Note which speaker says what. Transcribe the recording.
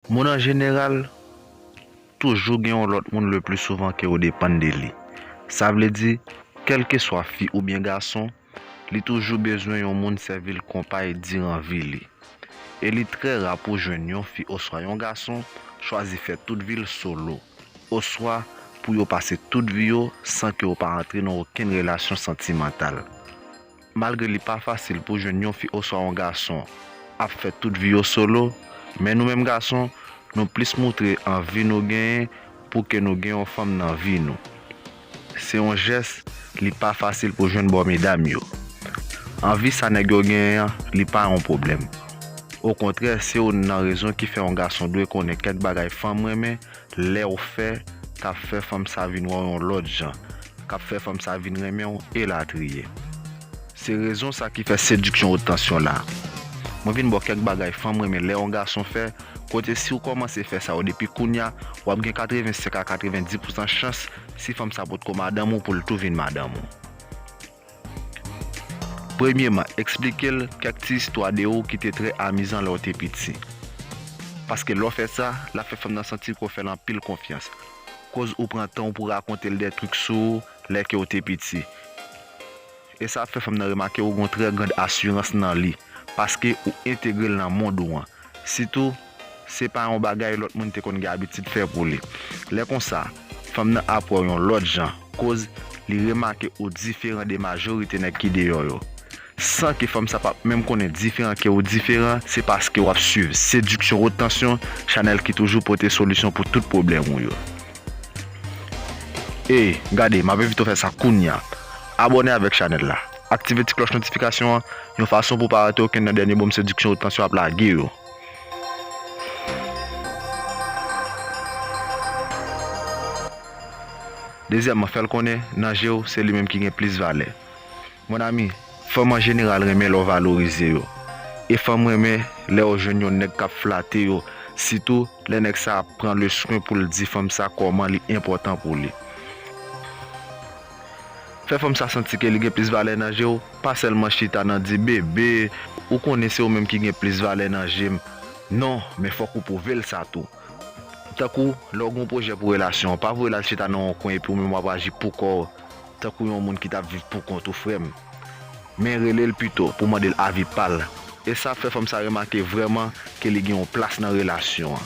Speaker 1: Moun an jeneral, toujou gen yon lòt moun le pli souvan ke ou depann de li. Sa vle di, kèlkeswa fi oubyen gason, li toujou bezwen yon moun sèvi l konpay diran vi li. E li trè ra pou jwenn yon fi oswa yon gason chwazi fè tout vi l solo, oswa pou yo pase tout vi yo san ke yo pa antre nan okenn relasyon santimantal. Malgre li pa fasil pou jwenn yon fi oswa yon gason ap fè tout vi yo solo, men nou menm gason, nou plis moutre anvi nou genyen pou ke nou gen yon fanm nan vi nou. Se yon jès li pa fasil pou jwenn bò medam yo. Anvi sa nèg yo genyen an, li pa yon pwoblèm. Okontrè, se youn nan rezon ki fè yon gason dwe konnen kèk bagay fanm renmen, Lèw fè, tap fè fanm sa vin wèw yon lòt jan, kap fè fanm sa vin renmenw elatriye. Se rezon sa ki fè sediksyon wot tansyon la. Mwen vin baw kèk bagay fanm renmen lè yon gason fè, kote siw kòmanse fè sa yo depi kounya, wap gen 85 a 90 pousan chans si fanm sa potko madanm ou poul tou vin madanm ou. Premyeman, eksplike l kèk ti istwa de ou ki te trè amizan lè w te piti. Paske lè w fè sa, l ap fè fanm nan santi ke w fè l anpil konfyans, koz ou pran tan w pou w rakonte l dè trik sou ou lè ke w te piti. E sa ap fè fanm nan remake ou gen yon trè grand asirans nan li, paske ou entegre l nan mond ou an. Sitou. se pa yon bagay lòt moun te konn gen abitid fè pou li. Lè konsa, fanm nan ap wè w yon lòt jan, koz li remake ou diferan de majorite nèg ki deyò yo. San ke fanm sa pap menm konnen diferan ke ou diferan, se paske w ap swiv Seduction Haute Tension, chanèl ki toujou pote solisyon pou tout pwoblèm ou yo. Ey, gade, m ap envite w fè sa kounya! Abòne avèk chanèl la, aktive ti klòch notifikasyon an, yon fason pou w pa rate okenn nan dènye bonm Seduction Haute Tension ap lage yo. Dezyèman, fè l konnen nan je w se li menm ki gen plis valè. Mon ami, fanm an jeneral renmen lè w valorize yo. E fanm renmen lè yo jwenn yon nèg k ap flate yo, sitou lè nèg sa a pran leswen pou l di fanm sa kòman li enpòtan pou li. Fè fanm sa santi ke li gen plis valè nan je w, pa sèlman chita nan di, Bebe, ou konnen se ou menm ki gen plis valè nan je m. Non, men fòk ou pwouve l sa tou. Tankou, lè w gen yon pwojè pou relasyon w, pa voye l al chita nan yon kwen epi ou menm w ap aji pou kò w, tankou yon moun ki t ap viv pou kont ou, frè m. Men rele l pito pou w mande l avi pa l. E sa ap fè fanm sa remake vrèman ke li gen yon plas nan relasyon an.